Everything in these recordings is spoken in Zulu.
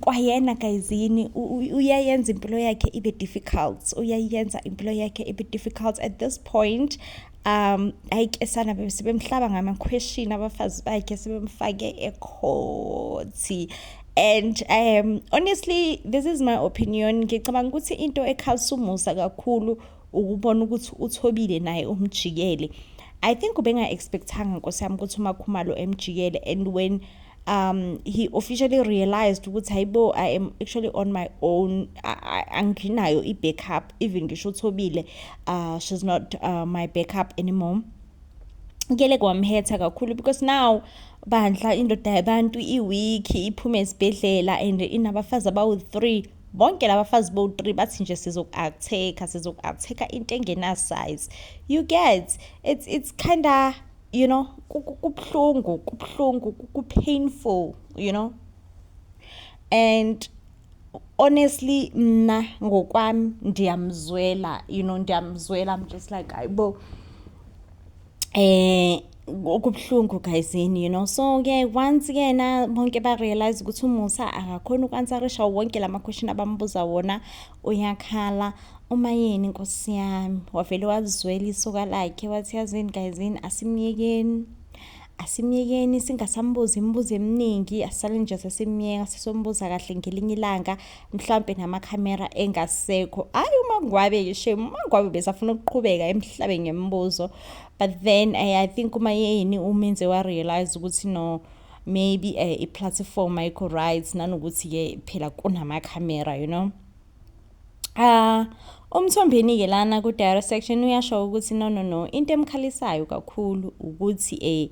kwayena gayizini uyayenza impilo yakhe ibe difficult uyayenza impilo yakhe ibe difficult at this point um ayi ke sana sebemhlaba ngamakhweshini abafazi bakhe sebemfake ekhothi and um honestly this is my opinion ngicabanga ukuthi into ekhalisa umusa kakhulu ukubona ukuthi uthobile naye umjikele i think ubenga-expectanga nkosi yami ukuthi umakhumalo emjikele and when um he officially realized ukuthi hayibo i am actually on my own anginayo i-backup even ngisho uthobile uh, she's not uh, my backup anymore ngele kwamhetha kakhulu because now bandla indoda yabantu iwiki iphume esibhedlela and inabafazi abawu-three bonke labafazi bo-three bathi nje sizoku-acteka sizoku-acteka into engenasize you get it's, it's kinda you know kubuhlungu kubuhlungu kupainful you know and honestly mna ngokwami ndiyamzwela you know ndiyamzwela i'm just like ayibo eh okubuhlungu guyzini you know so ke once kena bonke barealize ukuthi umusa akakhona uku-ansarisha wonke la ma-question abamubuza wona uyakhala umayeni nkosi yami wavele wazizwela isoka lakhe wathi yazini gayizini asimyekeni asimyekeni singasambuzi imibuzo eminingi asale nje sesimyeka sesombuza kahle ngelinye ilanga mhlawumpe namakhamera engasekho hhayi umangwabe shem umangwabe besafuna ukuqhubeka emhlabeni ngemibuzo but then I, eh, i think uma yeyini umenze warealize ukuthi no maybe uh, eh, i-platform ayikho right nanokuthi-ke phela kunamakhamera you know Ah, uMthombeni-ke lana ku-diary section uyasho ukuthi no no no, into emkhalisayo kakhulu ukuthi eh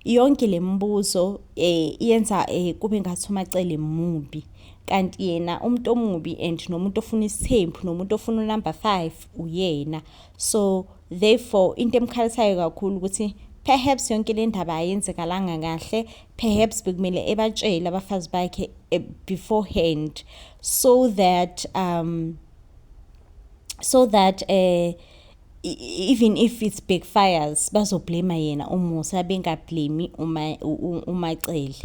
yonke le mibuzo eh yenza eh kube ngathi umacele mubi. Kanti yena umuntu omubi and nomuntu ofuna isithembu nomuntu ofuna unumber 5 uyena. So therefore into emkhalisayo kakhulu ukuthi perhaps yonke le ndaba ayenzekalanga kahle perhaps bekumele ebatshele abafazi bakhe eh, beforehand so that um so that eh uh, even if it's backfires bazoblema yena umusa bengablemi uma umacele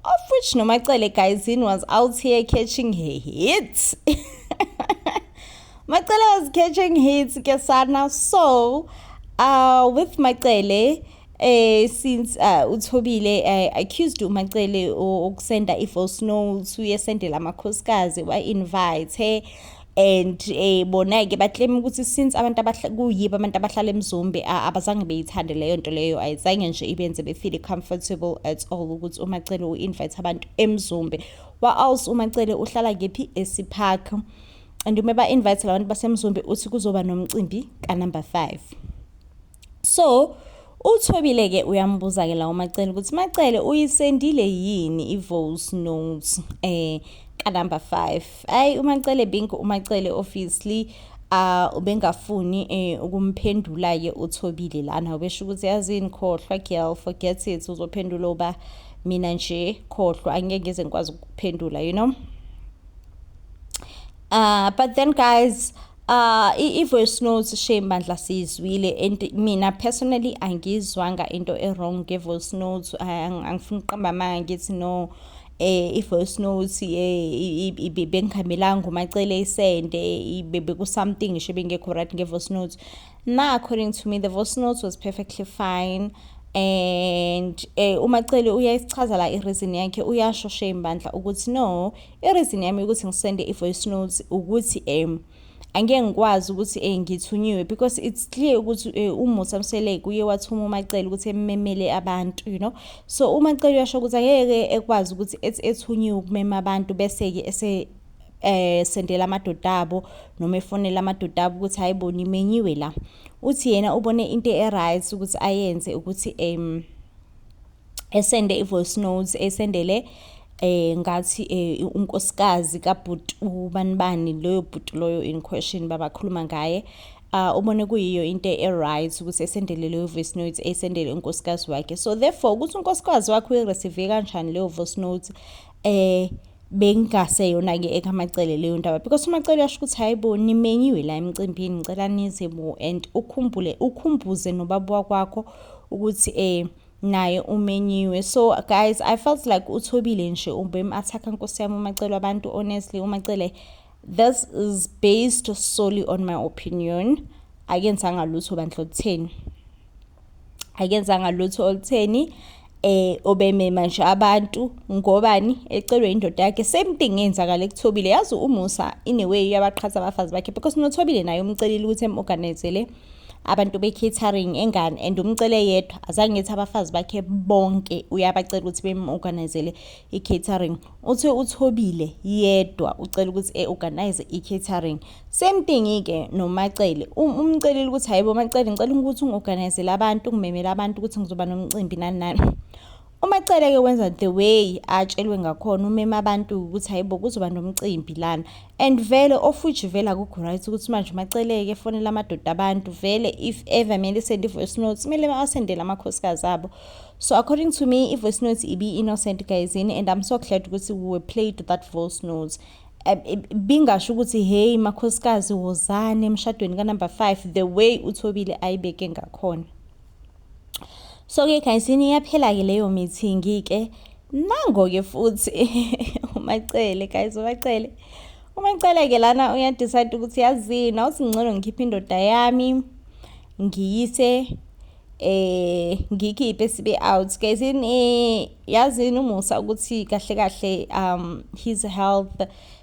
of which nomacele guys in was out here catching her hits macele was catching hits kesana so uh with macele eh since uh, uthobile uh, accused umacele ukusenda i-voice notes uyesendela amakhosikazi wa-invite and eh bona ke baclaim ukuthi since abantu kuyiba abantu abahlala emzombe abazange beyithande leyo nto leyo ayizange nje ibenze befeel comfortable at all ukuthi umacele u-invite abantu emzombe wa else umacele uhlala kephi esipark and uma ba-invite labantu basemzombe uthi kuzoba nomcimbi kanumber 5 so uthobile ke uyambuza ke la umacele ukuthi macele uyisendile yini i-voice note eh ka number 5 ayi umacele bink umacele obviously uh ubengafuni eh, ukumphendula ke uthobile lana ubesho ukuthi yazini khohlwa girl forget it uzophendula uba mina nje khohlwa angeke ngize ngikwazi ukuphendula you know Uh, but then guys uh i-voice notes shame bandla siyizwile and mina personally angizwanga into e-wrong nge-voice notes angifuni ukuqamba amanga ngithi no eh i-voice notes eh bengihambilanga umacele isende beku something ngisho bengekho right nge-voice notes na according to me the voice notes was perfectly fine and eh umacele uyayisichaza la ireason yakhe uyasho shame bandla ukuthi no I-reason yami ukuthi ngisende i-voice notes ukuthi um angeke ngikwazi ukuthi um ngithunyiwe because it's clear ukuthi um eh, umusa msheleke uye wathuma umacele ukuthi ememele abantu you know so umacele uyasho ukuthi angeke ekwazi ukuthi ethi ethunyiwe ukumema abantu bese-ke ese eh sendela amadoda abo noma efonela amadoda abo ukuthi hayibo nimenyiwe la uthi yena ubone into e-right ukuthi ayenze ukuthi um esende i-voice notes esendele eh ngathi eh, unkosikazi kabhuti ubani bani loyo bhuti loyo in question babakhuluma ngaye uh, ubone kuyiyo into e-right ukuthi esendele leyo voice note esendele unkosikazi wakhe so therefore ukuthi unkosikazi wakhe uyireceive kanjani leyo voice note eh bengase yona ke ekamacele leyo ndaba because umacele uyasho ukuthi hayibo nimenyiwe la emcimbini ngicela nize bo and ukhumbule ukhumbuze nobaba wakwakho ukuthi eh naye umenyiwe so guys i felt like uthobile nje ubem athakha nkosi yami umacele abantu honestly umacele this is based solely on my opinion akenzanga lutho bandla olutheni akenzanga lutho olutheni eh obemema nje abantu ngobani ecelwe indoda yakhe same thing yenzakala ekuthobile yazi umusa in a way yabaqhatha abafazi bakhe because nothobile naye umcelile ukuthi emorganizele abantu be-catering engane and umcele yedwa azange ethi abafazi bakhe bonke uyabacela ukuthi bemu-organizele i-catering uthi uthobile yedwa ucela ukuthi e-organize i-catering same thing-ke nomacele um, umcelile ukuthi hayi bomacele ngicela ukuthi ungi-organizele abantu ungimemele abantu ukuthi ngizoba nomcimbi nani nani UMacele ke wenza the way atshelwe ngakhona umema abantu ukuthi hayibo kuzoba nomcimbi lana and vele ofuji vele akukho right ukuthi manje uMacele ke fonela amadoda abantu vele if ever mele send voice notes mele asendele amakhosikazi abo so according to me i-voice notes ibi innocent guys and I'm so glad ukuthi we were played that voice notes eh, eh, bingasho ukuthi hey makhosikazi wozane emshadweni ka number 5 the way uthobile ayibeke ngakhona so ke guys ini iyaphela ke leyo meeting ke nango ke futhi umacele guys umacele umacele ke lana uyadecide ukuthi yazini awusingcono ngikhiphe indoda yami ngiyise eh ngikhiphe sibe out guys in eh, yazini umusa ukuthi kahle kahle um his health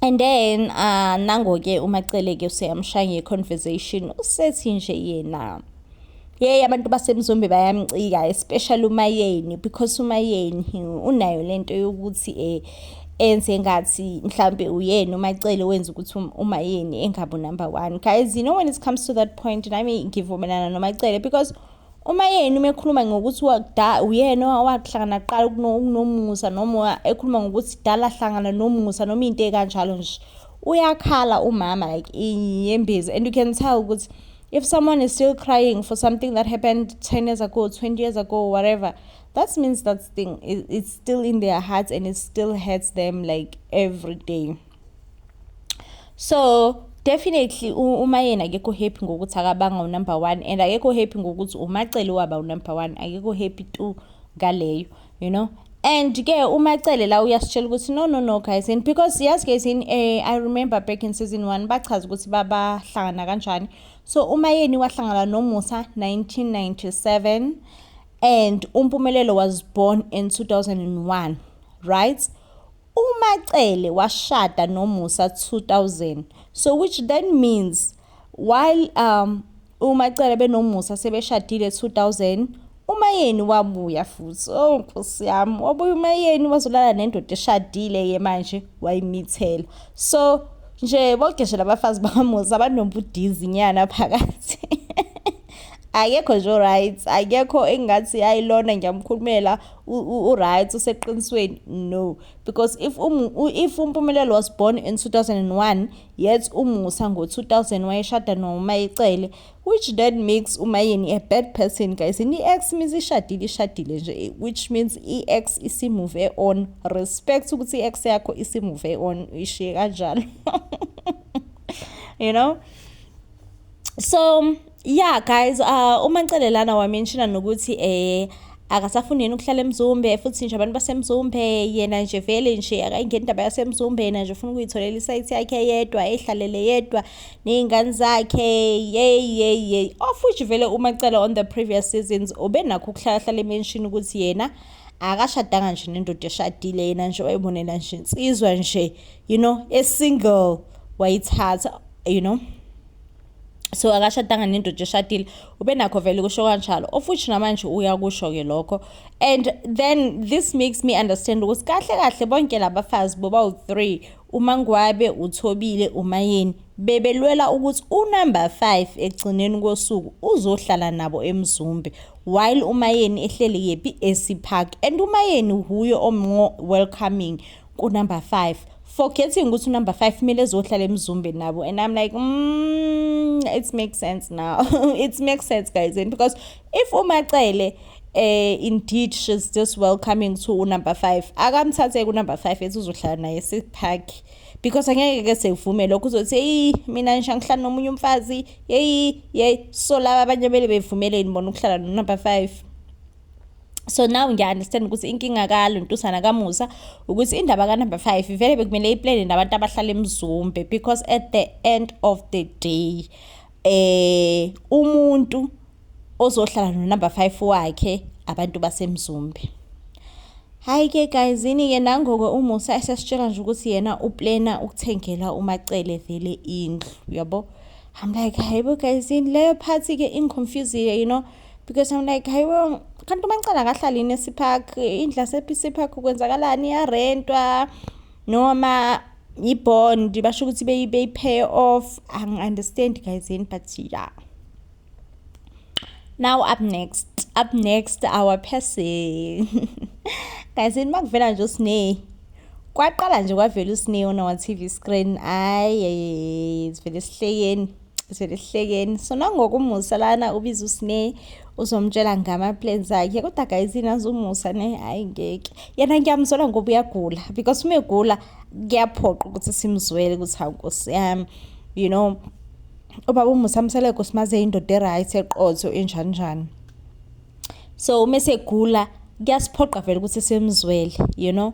and then uh, nango-ke umaceleke useyamshaya nge-conversation usethi nje yena yeyi abantu basemzombe bayamcika especially umayeni because umayeni unayo le nto yokuthi um enze ngathi mhlawumbe uyena umacele wenza ukuthi um, umayeni engabi number one guys you know when it comes to that point nami ngivumelana nomacele because Uma yena uma ekhuluma ngokuthi uyena owahlangana kuqala ukunomusa noma ekhuluma ngokuthi dala hlangana nomusa noma into ekanjalo nje uyakhala umama like iyembezi and you can tell ukuthi if someone is still crying for something that happened 10 years ago 20 years ago whatever that means that thing it's still in their hearts and it still hurts them like every day so definitely uma yena akekho happy ngokuthi akabanga unumber one and akekho happy ngokuthi umacele waba unumber one akekho happy tu ngaleyo you know and ke umacele la uyasitshela ukuthi no no no guys and because yes guys in eh, i remember back in season one bachaza ukuthi babahlangana kanjani so uma yeni wahlangana nomusa 1997 and umpumelelo was born in 2001 right UMaCele washada noMusa 2000 so which then means while um uMaCele benoMusa sebeshadile 2000 uMayeni wabuya futhi oh nkosi yami wabuya uMayeni wazolala nendoda eshadile ke manje wayimithela so nje bonke nje labafazi bakaMusa banobudizi nyana phakathi akekho nje right akekho engathi ayilona ngiyamkhulumela uright useqinisweni no because if um, if umpumelelo was born in 2001 yet umusa ngo-2000 wayeshada nomayicele which that makes umayeni a bad person guys and i-ex means ishadile ishadile nje which means i-ex isimove on respect ukuthi i-ex yakho isimove on ishiye kanjalo you know so yeah guys uh, uma ncelelana wamenshina nokuthi eh akasafuni yena ukuhlala emzumbe futhi nje abantu basemzumbe yena nje vele nje akayingeni indaba yasemzumbe yena nje ufuna ukuyitholela isayithi yakhe yedwa ehlalele yedwa ney'ngane zakhe yeyi yeyi yeyi of which vele umacela on the previous seasons ubenakho ukuhlalahlala emenshini ukuthi yena akashadanga nje nendoda eshadile yena nje wayibonela nje insizwa nje you know esingle wayithatha you know so akashadanga nendoda eshadile ubenakho vele kusho kanjalo of which namanje uyakusho-ke lokho and then this makes me understand ukuthi kahle kahle bonke labafazi bobawu-three umangwabe uthobile umayeni bebelwela ukuthi unumber five ekugcineni kosuku uzohlala nabo emzumbe while umayeni ehleli yephi esipark and umayeni wuye omnqo welcoming kunumber 5 forgetting ukuthi unumber 5 kumele ezohlala emzumbeni nabo and i'm like mm, it makes sense now it makes sense guys and because if umacele eh indeed she's just welcoming to unumber 5 akamthathe kunumber 5 ethi uzohlala naye sipark because angeke ke sevume lokho uzothi hey mina ngisha ngihlala nomunye umfazi hey hey so laba abanye bele bevumeleni bona ukuhlala no number 5 so now ngiya-understand ukuthi inkinga kalo ntusana kamusa ukuthi indaba kanumber five vele bekumele iplane nabantu abahlala emzumbe because at the end of the day eh umuntu ozohlala nonumber five wakhe abantu basemzumbe hayi ke guys yini-ke nangoke umusa esesitshela nje ukuthi yena uplena ukuthengela umacele vele indlu yabo i'm like hayibo guys yini leyo phathi-ke ingiconfusile you know because I'm like hayi bo kanti umancane akahlali yini esipark indla sepisi park kwenzakalani iyarentwa noma yibond basho ukuthi beyi-pay off angi-understand guys yini but yeah now up next up next our person guys yini makuvela nje usine kwaqala nje kwavela usine on our tv screen ayi sivele sihleyeni zelihlekeni so nangokumusa lana ubiza usine uzomtshela ngama-plans akhe kodwa guys inazi umusa ne hhayi ngeke yena ngiyamzwela ngoba uyagula because uma egula kuyaphoqa ukuthi simzwele ukuthi hawu nkosi yami you know ubaba umusa mseleko simaze indoda e-right eqotho enjaninjani so uma esegula kuyasiphoqa vele ukuthi simzwele you know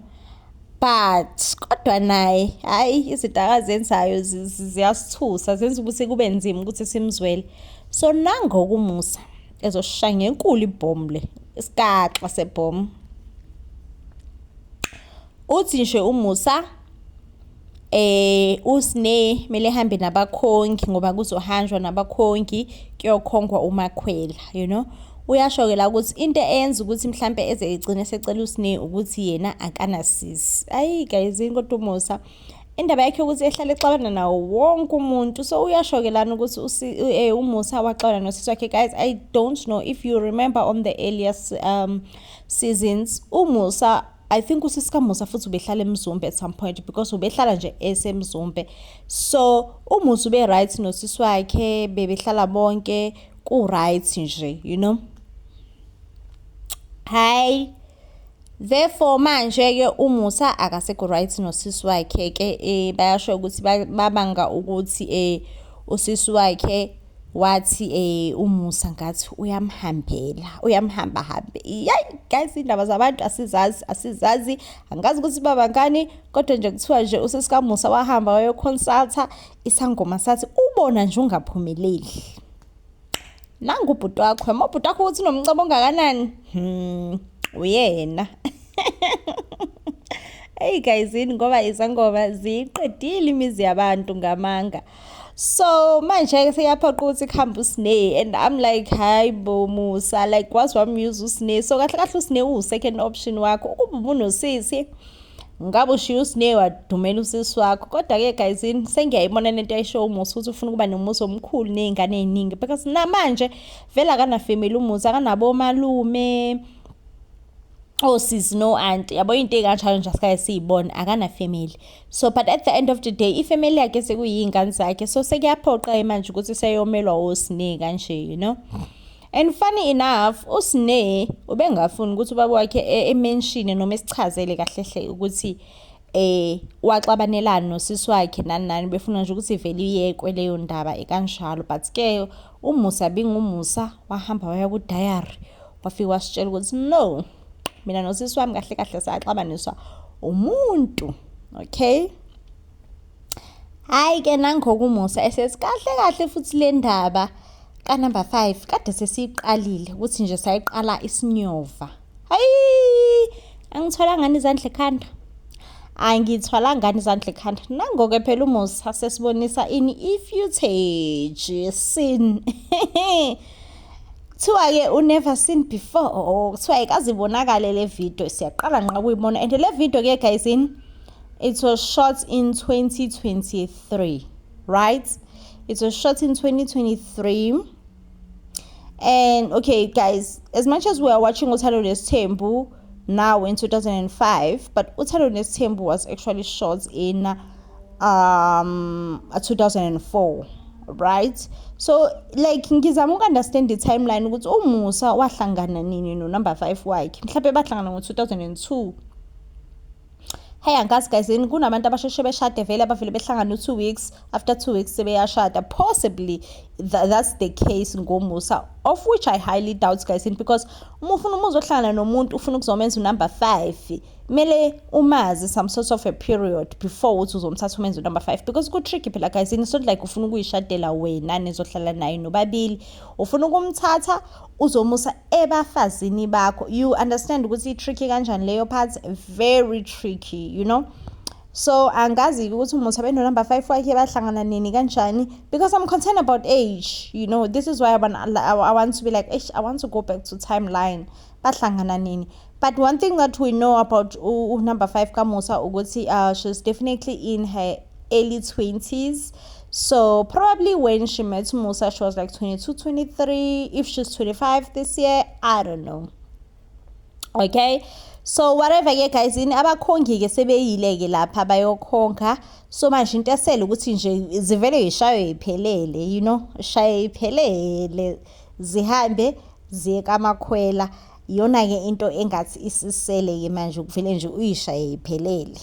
but kodwa naye hayi izinto akazenzayo ziyasithusa zenza ukuthi kube nzima ukuthi simzwele so nangokumusa ezoshaya ngenkulu ibhomu le isikaxa sebhomu uthi nje umusa eh usne mele hambe nabakhongi ngoba kuzohanjwa nabakhongi kuyokhongwa umakhwela you know uyasho ke la ukuthi into eyenza ukuthi mhlambe eze egcine secela usne ukuthi yena akanasisi ayi guys kodwa umusa indaba yakhe ukuthi ehlale exabana nawo wonke umuntu so uyasho ke lana ukuthi eh, umusa waxabana nosisi wakhe guys i don't know if you remember on the earlier um, seasons umusa I think usiska Musa futhi ubehlala eMzumbe at some point because ubehlala nje eseMzumbe so uMusa ube right nosisi wakhe bebehlala bonke ku right nje you know hayi therefore manje ke uMusa akasekho right nosisi wakhe ke eh bayasho ukuthi babanga ukuthi eh usisi wakhe wathi eh umusa ngathi uyamhambela uyamhamba hambe yayi guys indaba zabantu asizazi asizazi angazi ukuthi baba ngani kodwa nje kuthiwa nje usesikamusa wahamba wayoconsulta isangoma sathi ubona nje ungaphumeleli nangu ubhuti wakho yama ubhuti wakho ukuthi unomcebo ongakanani hmm uyena Hey guys yini ngoba izangoma ziqedile imizi yabantu ngamanga so manje seyaphoqa ukuthi kuhambe usne and i'm like hayi bo musa like wazi wamuse usne so kahle kahle usne uwu-second option wakho ukuba ubunosisi ngabe ushiya usne wadumela usisi wakho kodwa-ke guyzini sengiyayibona lento ayisho umusa ukuthi ufuna ukuba nomusa omkhulu ney'ngane ey'ningi because namanje vele akanafemeli umusa akanabo omalume osisi oh, no-anti yabo into ey'kanjalo nje asikaye siyibone akanafemeli so but at the end of the day ifamily yakhe sekuyiy'ngane zakhe so sekuyaphoqa-ke manje ukuthi seyomelwa wosine kanje you know and funny enough usine ubengafuni ukuthi ubaba wakhe e-, emenshine noma esichazele kahlehle ukuthi eh waxabanelana nosisi wakhe nani nani befuna nje ukuthi vele iyekwe leyo ndaba ekanjalo but ke umusa bingumusa wahamba waya ku diary wafika wasitshela ukuthi no mina nosisi wami kahle kahle saxabaniswa umuntu okay hayi ke nangokumusa esesikahle kahle futhi le ndaba ka number 5 kade sesiqalile ukuthi nje sayiqala isinyova hayi angithola ngani izandla ekhanda angithwala ngani izandla ekhanda nangoke phela umusa sesibonisa ini ifootage sin kuthiwa-ke u-never seen before oh, kuthiwa ikazibonakale le video siyaqala nqa kuyibona and le video-ke guysin it was shot in 2023 right it was shot in 2023 and okay guys as much as we are watching uthando nesithembu now in 2005 but uthando nesithembu was actually shot in um 2004 right so like ngizama uku-understand i-timeline ukuthi umusa wahlangana nini no-number five wakhe mhlawumbe bahlangana ngo-2002 Hey angazi guys yini kunabantu abasheshe beshade vele abavele behlangana u2 weeks after 2 weeks sebeyashada possibly th that's the case ngomusa of which I highly doubt guys yini because uma ufuna umuzi ohlangana nomuntu ufuna ukuzomenza unumber 5 mele umazi some sort of a period before uthi uzomthatha umenze unumber 5 because ku tricky phela guys yini so like ufuna ukuyishadela wena nizohlala naye nobabili ufuna ukumthatha uzomusa ebafazini bakho you understand ukuthi i-tricky kanjani leyo part very tricky you know so angazi-ke ukuthi umusa benonumber five wakhe bahlangana nini kanjani because i'm concerned about age you know this is why I want, I want to be like eish i want to go back to timeline bahlangana nini But one thing that we know about uh, number five Kamusa Uguti, uh, she's definitely in her early 20s. So probably when she met Musa, she was like 22, 23. If she's 25 this year, I don't know. Okay. so whatever ke guys ini abakhongi ke sebeyile ke lapha bayokhonga so manje into esele ukuthi nje zivele yishaywe iphelele you know shaye iphelele zihambe ziye kamakhwela Iyona-ke into engathi isisele-ke manje ukuvele nje uyishaye iphelele.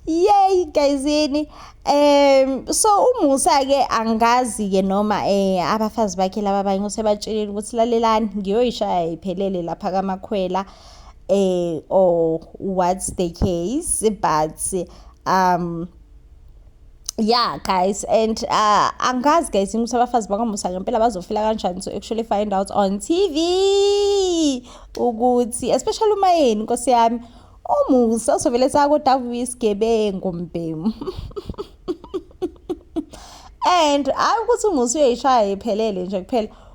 Yay guys yini um so umusa ke angazi ke noma eh abafazi bakhe laba abanye usebatshelile ukuthi lalelani ngiyoyishaya iphelele lapha kamakhwela eh or what's the case but um yeah guys and uh, angazi guys ukuthi abafazi bakamusa ngempela bazofila kanjani so actually find out on tv ukuthi especially uma yeni nkosi yami umusa uzovele sakodava isigebengu mbhemu and hayi ukuthi umusa uyayishaya iphelele nje kuphela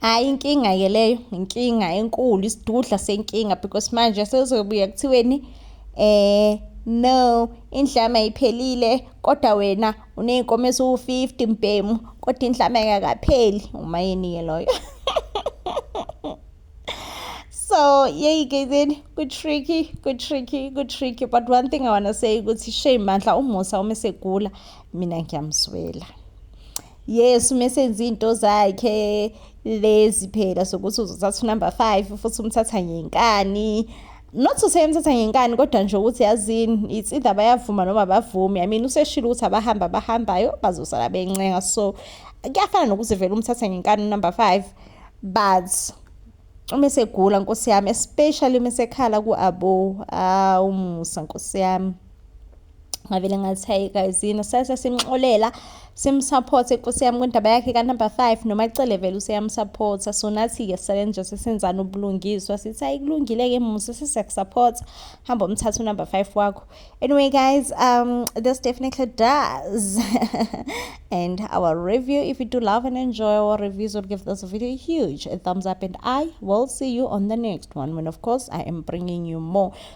Hhayi inkinga-ke leyo inkinga enkulu isidudla senkinga because manje sezobuye kuthiweni eh no indlama iphelile kodwa wena uney'nkomo eziwu-fifty mbhemu kodwa indlama engakapheli umayini-ke loyo so yeyi ke then ku-tricky ku-tricky ku-tricky but one thing i wanna say ukuthi shame mandla umusa uma esegula mina ngiyamzwela yes uma esenza iy'nto zakhe lezi phela sokuthi uzothatha unumber five futhi umthatha ngenkani not to say emthatha ngenkani kodwa nje ukuthi yazini it's either bayavuma noma bavumi i mean useshilo ukuthi abahamba abahambayo bazosala bencenga so kuyafana nokuthi vele umthatha ngenkani unumber five but uma esegula nkosi yami especially uma esekhala ku-abo awu musa nkosi yami ngavele ngathi hayi guys yini sase simxolela simsupport inkosi yami kwindaba yakhe ka number 5 noma icele vele useyamsupport so nathi ke sale nje sesenzana ubulungiswa sithi hayi kulungile ke musa sisakusupport hamba umthatha number 5 wakho anyway guys um this definitely does and our review if you do love and enjoy our reviews or give this video a huge thumbs up and i will see you on the next one when of course i am bringing you more